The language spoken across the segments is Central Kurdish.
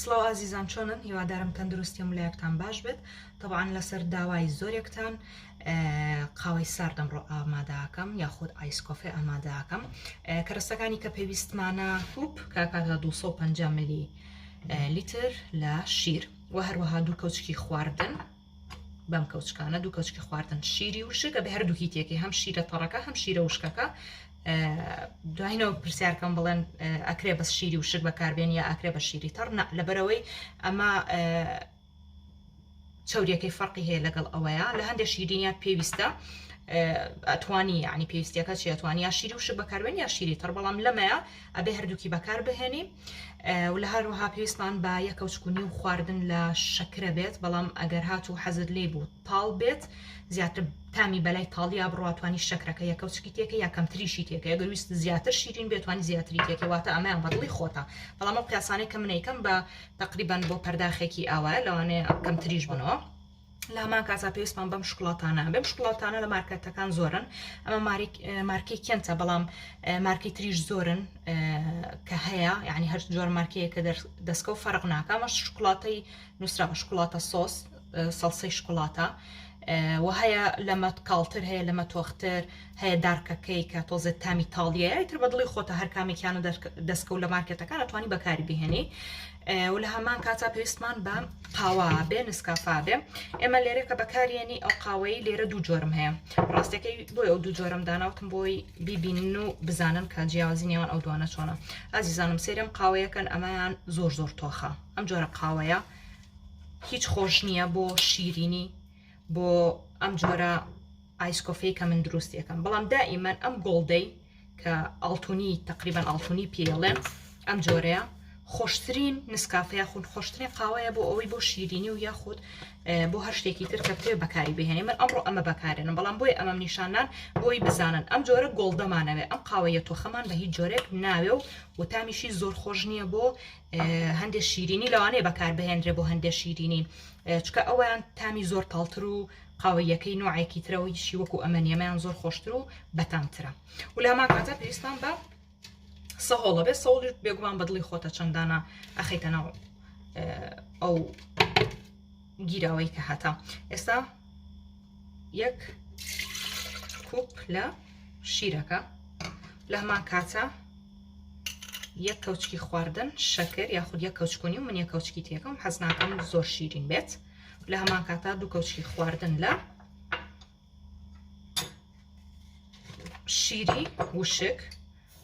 سڵاو ئازیزان چۆنن هیوادارم تەندروستی و ملایەکتان باش بێت تەبان لەسەر داوای زۆرێکتان قاوەی ساردەم ڕۆ ئاماداکەم یاخود ئایسکۆفێ ئاماداکەم کەرەستەکانی کە پێویستمانە کوپ کاکاکە 250 ملی لیتر لە شیر و هەروەها دوو کەوچکی خواردن بەم کەوچکانە دوو کەچکی خواردن شیری وشکە بە هەردووکی تێکی هەم شیرە تەڕەکە هەم شیرە وشکەکە دوایینەوە پرسیارکەم بڵێن ئەکرێ بە شیری وشک بەکاربێن یا ئاکرێ بە شیری تەڕ نە لەبەرەوەی ئەمە چوریەکەی فەرقی هەیە لەگەڵ ئەوەیە لە هەندێک شیرینە پێویستە ئەتوانی ینی پێویستەکە چێتوانی یا شیری وشک بەکاربێن یا شیری تەڕ بەڵام لەمەیە ئەبێ هەردووکی بەکار بهێنی و لە هەروەها پێویستمان بە یەکە و چکونی و خواردن لە شەکرە بێت بەڵام ئەگەر هات و حەزت لێ بوو تاڵ بێت زیاتر تامی بەلای تاڵیا بڕاتوانی شەکرەکە یەکە و چکی تێکە یا کەمتریشی تێکە گەویست زیاتر شیرین بێتوانی زیاتری تێکەواتە ئەمەیان بەدڵی خۆتە بەڵام ئەو قیاسانەی کە منەیکەم بە تقریبان بۆ پەرداخێکی ئاوایە لەوانەیە کەمتریش بنەوە. لامان کازا پێویستمان بەم شکڵاتانە بەم شکڵاتانە لە مارکەتەکان زۆرن ئەمە مارکی کێنتە بەڵام مارکی تریش زۆرن کە هەیە یعنی هەر جۆر مارکەیە کە دەستکە و فەرق ناکەمە شکڵاتەی نووسرا بە شکڵاتە سۆس سەڵسەی شکڵاتە و هەیە لەمە کاڵتر هەیە لەمە تۆختر هەیە دارکەکەی کە تۆزێت تامی تاڵیە ئیتر بە دڵی خۆتە هەر کامێکیانە دەستکە و لە مارکێتەکان ئەتوانی بەکاری بهێنی و لە هەمان کاتا پێویستمان بە قاوا بێ نسکافا بێ ئێمە لێرە کە بەکارێنی ئەو قاوەی لێرە دوو جۆرم هەیە ڕاستەکەی بۆی ئەو دوو جۆرم داناوتم بۆی بیبینن و بزانن کە جیاوازی نێوان ئەو دوانە چۆنە ئازیزانم سێرم قاوەیەکەن ئەمەیان زۆر زۆر تۆخە ئەم جۆرە قاوەیە هیچ خۆش نییە بۆ شیرینی بۆ ئەم جۆرە ئایسکۆفەی کە من دروستیەکەم بەڵام دائیمەن ئەم گۆڵدەی کە ئاڵتونی تقریبان ئاڵتونی پێڵێن ئەم جۆرەیە خۆشترین نسکافەیە خون خۆشترین قاوەیە بۆ ئەوەی بۆ شیرینی و یاخود بۆ هەر شتێکی تر کە بتێ بەکاری بهێنێ من ئەمڕۆ ئەمە بەکارێنم بەڵام بۆی ئەمەم نیشانان بۆی بزانن ئەم جۆرە گۆڵدەمانەوێ ئەم قاوەیە تۆخەمان بە هیچ جۆرێک ناوێ و وتامیشی زۆر خۆش نییە بۆ هەندێ شیرینی لەوانەیە بەکار بهێنرێ بۆ هەندێ شیرینی چکە ئەویان تامی زۆر تاڵتر و قاوەیەکەی نوعێکی ترەوەی شی وەکو ئەمە نیەمەیان زۆر خۆشتر و بەتامترە ولامان کاتە پێویستان بە سەهۆڵە بێ سەوڵی بێگومان بەدڵی خۆتە چەندانە ئەخیتە ناو ئەو گیراوەی کە هاتە ئێستا یەک کوپ لە شیرەکە لە هەمان کاتە یەک کەوچکی خواردن شەکر یاخود یە کەوچکۆنی و من یە کەوچکی تێکەم حەز ناکەم زۆر شیرین بێت لە هەمان کاتا دوو کەوچکی خواردن لە شیری وشک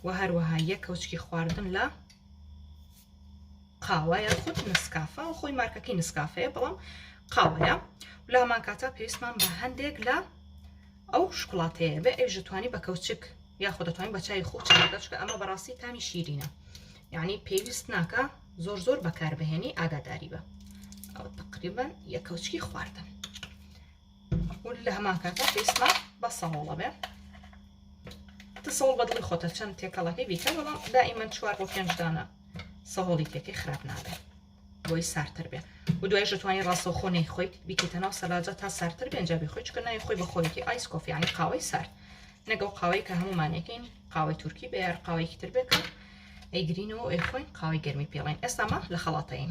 و هەروەها یەک کەوچکی خواردن لە قاوە یان خود نسکافە و خۆی مارکەکەی نسکافەیە بەڵام قاوەیە لە هەمان کاتا پێویستمان بە هەندێک لە ئەو شکڵاتەیە بێ ئەوژە توانی بە کەوچک یاخود دەتوانین بە چای خوچ بەچکە ئەمە بەڕاستی تامی شیرینە یعنی پێویست ناکە زۆر زۆر بەکاربهێنی ئاگاداری بە ئەو تقریبان یە کەوچکی خواردن و لە هەمان کاتە پێستمان بە سەهۆڵە بێ تسەڵ بە دڵی خۆتە چەند تێکەڵەکەی بیکە بەڵام دائیمەن چوار بۆ پێنجدانە سەهۆڵی تێکەی خراپ نابێت بۆی سارتر بێ و دوای ژتوانی ڕاستەوخۆ نەی خۆیت بیکەیتە ناو سەلاجە تا سارتر بێنجا بێ خۆی چکە ناوی خۆی بە خۆیەتی ئایس کۆفیانی قاوەی سارد نەگەڵ قاوەی کە هەمومانەکەین قاوەی تورکی بە یار قاوەیەکی تر بێکە ئەیگرینەوە ئەیخۆین قاوەی گەرمی پێڵین ئێستامە لە خەڵاتەین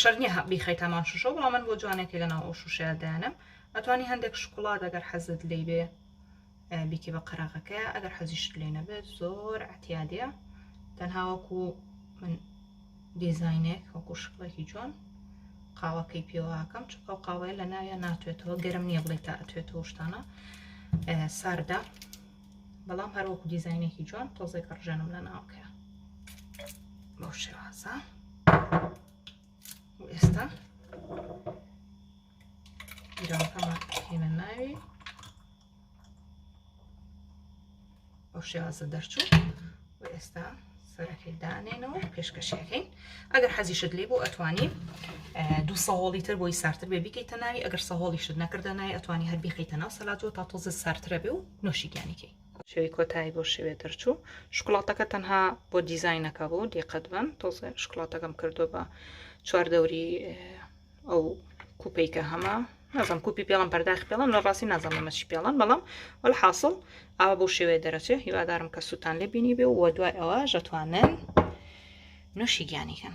شەر نییە هە بیخەیت هەمان شوشەوە بەڵام من بۆ جوانێکی لەناو ئەو شوشەیە دایانم ئەتوانی هەندێک شکڵات ئەگەر حەزت لی بێ بیکی بە قەراغەکە ئەگەر حەزیشت لێ نەبێت زۆر ئەتیادە تەنهاوەکو من دیزینێک وەکو شکڵێکی جوان قاوەکەی پێواکەم چ ئەو قاوەیە لە ناویان ناتوێتەوە گەرم نییە بڵێ تا ئەتوێتەوە شتانە ساردە بەڵام هەروەکو دیزینێکی جوان تۆزێک ڕژێنم لە ناوکەیە بەو شێوازە و ئێستا گیرەوەکەمان کەینە ناوی بەو شێوازە دەرچوو و ئێستا سەرەکەی دانێنەوە پێشکەشیەکەین ئەگەر حەزیشت لێ بۆ ئەتوانی دو سەهۆڵی تر بۆی سارتر بێ بیکەیتە ناوی ئەگەر سەهۆڵیشت نەکردە نای ئەتوانی هەر بیخیتە ناو سەلاتەوە تا تۆزە سارترە بێ و نۆشیگیانەکەی شوی کۆتایی بۆ شوێ دەرچوو شکڵاتەکە تەنها بۆ دیزینەکە بوو دیقەت بن تۆزێ شکڵاتەکەم کردو بە چواردەوری ئەو کوپەی کە هەمە نازم کوپی پێڵم پەرداخی پێڵم لە ڕاستی نازم مەچی پێڵم بەڵام وەل حاصل ئاوا بۆ شێوێ دەرەچێ هیوادارم کە سووتان لێ بینی بێ و دوای ئەوە ژەتوانن نوشی گیانی کەن